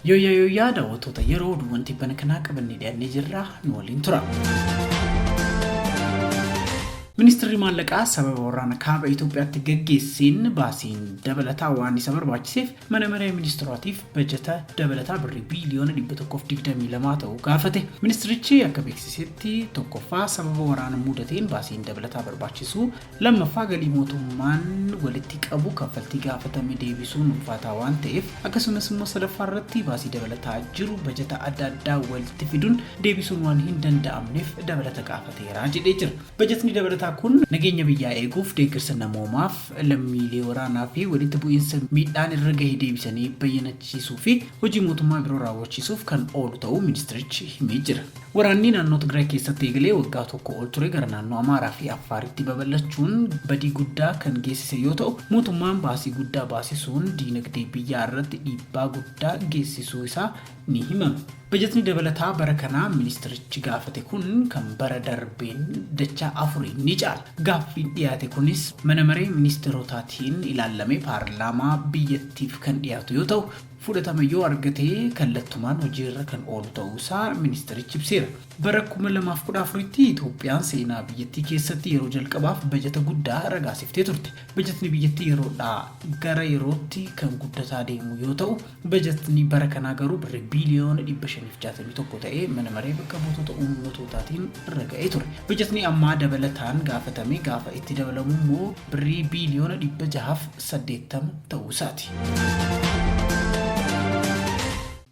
Yooyyaa yooyyaa daawwattoota yeroo oduuwwan tibbana kanaa qabannee dhiyaannee jirra nu waliin tura. Ministeerri maallaqaa sababa waraana kaaba Itoophiyaatti gaggeesseen baasiin dabalataa waan isa barbaachiseef Mana Maree Ministirootaatiif bajata dabalataa Birrii biiliyoona 122 ta'u gaafate. Ministirichi akka beeksisetti, tokkoffaa sababa waraana muudateen baasiin dabalataa barbaachisu, lammaffaa galii mootummaan walitti qabu kaffaltii gaafatame deebisuun ulfaataa waan ta'eef, akkasumas immoo sadaffaa irratti baasii dabalataa jiru bajata adda addaa walitti fiduun deebisuun waan hin danda'amneef dabalata gaafateera jedhee jira. Bajatni dabalataa kun nageenya biyyaa eeguuf, deeggarsa namoomaaf, lammiilee waraanaa fi walitti bu'iinsa miidhaan irra gahe deebisanii bayyanachiisuu fi hojii mootummaa biroo raawwachiisuuf kan oolu ta'uu ministeerichi himee jira. Waraanni naannoo Tigraay keessatti eegalee waggaa tokko ol ture gara naannoo Amaaraa fi Affaaritti babal'achuun badii guddaa kan geessise yoo ta'u, mootummaan baasii guddaa baasisuun diinagdee biyyaa irratti dhiibbaa guddaa geessisuu isaa ni himama. Bajatni dabalataa bara kanaa ministeerichi gaafate kun kan bara darbeen dachaa afuriin ni caala. Gaaffiin dhiyaate kunis mana maree ministeerotaatiin ilaallamee paarlaamaa biyyattiif kan dhiyaatu yoo ta'u, fudhatama yoo argate kallattumaan hojiirra kan oolu ta'uusaa ministeerichi ibseera. Bara 2014tti Itoophiyaan seenaa biyyattii keessatti yeroo jalqabaaf bajata guddaa ragaasiftee turte. Bajatni biyyattii yeroodhaa gara yerootti kan guddataa deemu yoo ta'u, Bajatni bara kanaa garuu Birrii biiliyoona 561 ta'ee Mana Maree Bakka Buutota Uummattootaatiin raga'ee ture. Bajatni ammaa dabalataan gaafatame gaafa itti dabalamu immoo Birrii biiliyoona 680 ta'uu isaati.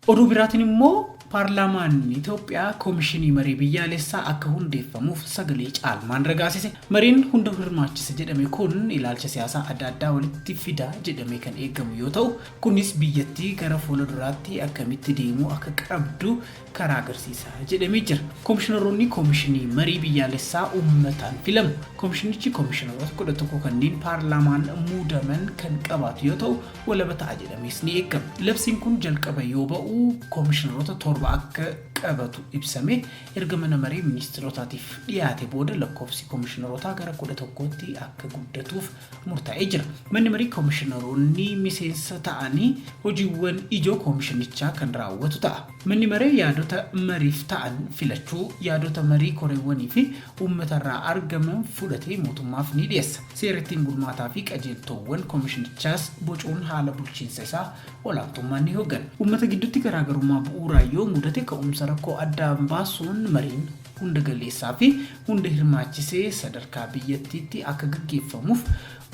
Oduu biraatiin immoo Paarlaamaan Itoophiyaa Komishinii Marii Biyyaalessaa akka hundeeffamuuf sagalee caalmaan ragaasise. Mariin hunda hirmaachisa jedhame kun ilaalcha siyaasaa adda addaa walitti fida jedhamee kan eegamu yoo ta'u, Kunis biyyattii gara fuula duraatti akkamitti deemuu akka qabdu karaa agarsiisa jedhamee jira. Komishinaroonni Komishinii Marii Biyyaalessaa ummataan filamu. Komishinichi komishinaroota 11 kanneen paarlaamaan muudaman kan qabaatu yoo ta'u, walaba ta'a jedhamees ni eegama. Labsiin kun jalqaba yoo ba'u komishinaroota torba akka qabatu ibsamee erga mana maree ministirotaatiif dhiyaate booda lakkoofsi komishinarootaa gara 11tti akka guddatuuf murtaa'ee jira. Manni Marii Komishinaroonni miseensa ta'anii hojiiwwan ijoo Komishinichaa kan raawwatu ta'a. Manni Maree yaadota mariif ta'an filachuu, yaadota marii koreewwanii fi uummata irraa argaman fudhatee mootummaaf ni dhiyeessa. Seera ittiin bulmaataa fi qajeeltoowwan Komishinichaas bocuun haala bulchiinsa isaa olaantummaan ni hoggana. Uummata gidduutti garaagarummaa bu'uuraa yoo mudate ka'umsa rakkoo addaan baasuun mariin. hunda galeessaa fi hunda hirmaachisee sadarkaa biyyattiitti akka gaggeeffamuuf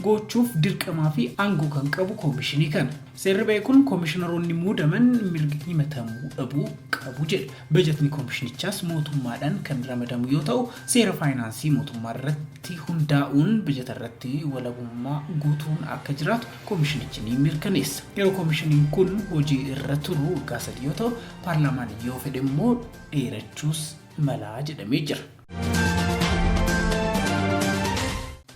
goochuuf dirqamaa fi aangoo kan qabu koomishinii kana. Seerri ba'e kun koomishinaroonni muudaman mirga himatamuu dhabuu qabu jedha. Bajatni koomishinichaas mootummaadhaan kan ramadamu yoo ta'u, seera faayinaansii mootummaa irratti hundaa'uun bajata irratti walabummaa guutuun akka jiraatu koomishinichi ni mirkaneessa. Yeroo koomishiniin kun hojii irra turu waggaa sadii yoo ta'u, paarlaamaan yoo fedhe immoo dheerachuus mala jedhamee jira.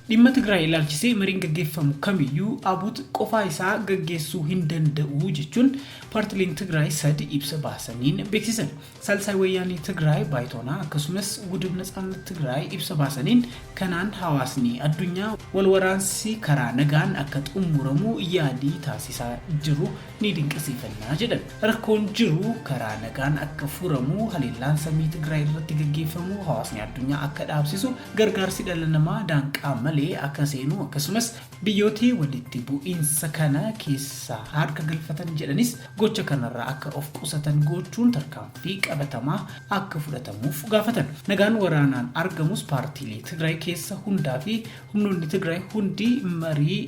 Dhimma Tigraay ilaalchisee mariin gaggeeffamu kamiyyuu ABUT qofaa isaa gaggeessuu hin danda'u jechuun paartileen Tigraay sadi ibsa baasaniin beeksisan. Saalsaay Wayyaanee Tigraay Baayitoonaa akkasumas Wudib Natsaannat Tigraay ibsa baasaniin kanaan hawaasni addunyaa wal waraansi karaa nagaan akka xumuramu yaalii taasisaa jiru ni dinqisiifanna jedhan. Rakkoon jiru karaa nagaan akka furamu, haleellaan samii Tigraay irratti gaggeeffamu hawaasni addunyaa akka dhaabsisu, gargaarsi dhala namaa daanqaa malee akka seenu akkasumas biyyooti walitti bu'iinsa kana keessaa harka galfatan jedhanis gocha kanarraa akka of qusatan goochuun tarkaanfii qabatamaa akka fudhatamuuf gaafatan. Nagaan waraanaan argamus paartiilee Tigraay keessa hundaa fi humnoonni Tigraay hundi marii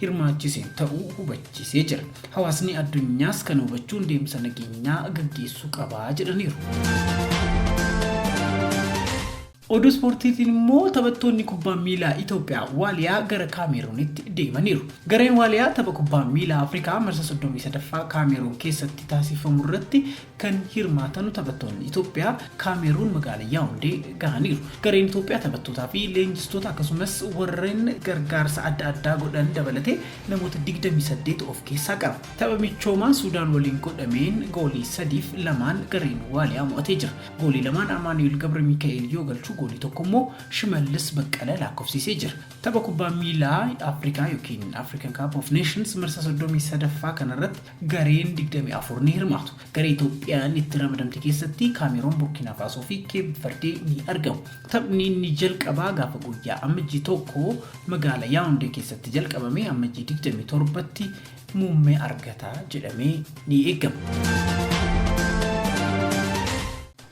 hirmaachisen ta'uu hubachiisee jira. Hawaasni addunyaas kana hubachuun deemsa nageenyaa gaggeessuu qaba jedhaniiru. Oduu ispoortiitiin immoo taphattoonni kubbaa miilaa Itoophiyaa Waaliyaa gara Kaameeruunitti deemaniiru. Gareen Waaliyaa tapha kubbaa miilaa Afrikaa marsa 33ffaa Kaameeruun keessatti taasifamu irratti Kan hirmaatanu taphattoonni Itoophiyaa Kaameeruun magaala Yaawundee gahaniiru. Gareen Itoophiyaa taphattootaa fi leenjistoota akkasumas warreen gargaarsa adda addaa godhan dabalatee namoota 28 of keessaa qaba. Tapha michoomaa Suudaan waliin godhameen goolii 3f 2n gareen Waaliyaa mo'atee jira. Goolii lamaan Amaanu'eel Gabramika'eel yoo galchu goolii tokko immoo Shimallis Baqqala laakkofsiisee jira. Tapha kubbaa miilaa Afrikaa ykn African Cup of Nations marsaa 33ffaa kanarratti Gareen 24 ni hirmaatu. Garee Itoophiyaan itti ramadamte keessatti Kaameeroon, Burkiinaa Faasoo fi Keep Verdee ni argamu. Taphni inni jalqabaa gaafa guyyaa Ammajjii 1 magaala Yaawundee keessatti jalqabamee Ammajjii 27tti muummee argata jedhamee ni eegama.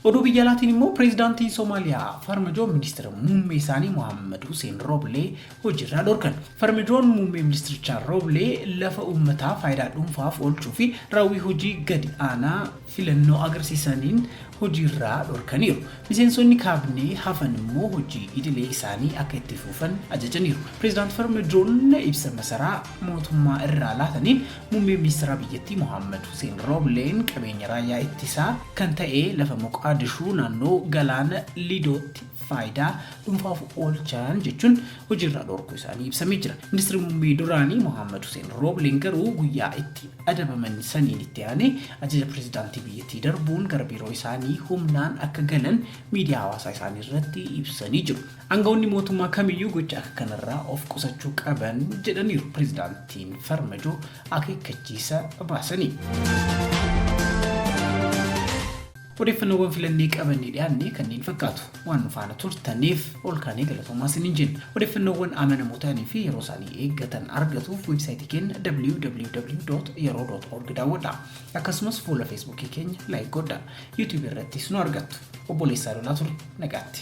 Oduu biyya alaatiin immoo Pireezidaantiin Somaaliyaa Farmajoo Ministira Muummee isaanii Mohaammed Huseen Rooblee hojiirraa dhorkan. Farmajoon muummee ministirichaa Rooblee lafa uummataa faayidaa dhuunfaaf oolchuu fi raawwii hojii gadi aanaa filannoo agarsiisaniin hojiirraa dhorkaniiru. Miseensonni kaabinee hafan immoo hojii idilee isaanii akka itti fufan ajajaniiru. Pireezidaant Farmajoon ibsa masaraa mootummaa irraa laataniin muummee ministeeraa biyyattii Mohaammed Huseen Roobleen qabeenya raayyaa ittisaa kan ta'e lafa Moqaadishuu naannoo galaana Lidootti faayidaa dhuunfaaf oolchaan jechuun hojiirraa dhorkuu isaanii ibsamee jira. Ministeerri muummee duraanii Mohaammed Huseen Roobleen garuu guyyaa itti adabaman saniin itti aanee ajaja pirezidaantii biyyattii darbuun gara biiroo isaanii humnaan akka galan miidiyaa hawaasaa isaanii irratti ibsanii jiru. Angawoonni mootummaa kamiyyuu gocha akka kanarraa of qusachuu qaban jedhaniiru Pireezidaantiin Farmajoo akeekkachiisa baasaniin. Odeeffannoowwan filannee qabannee dhiyaanne kanneen fakkaatu. Waan nu faana turtaniif olkaanee galatoomaa isiniin jenna. Odeeffannoowwan amanamoo ta'anii fi yeroo isaanii eeggatan argatuuf weebsaayitii keenya www.yeroo.org daawwadhaa. Akkasumas fuula Feesbuukii keenya laayik godhaa. YouTube irrattis nu argattu. Obboleessaa Lolaa ture. Nagaatti.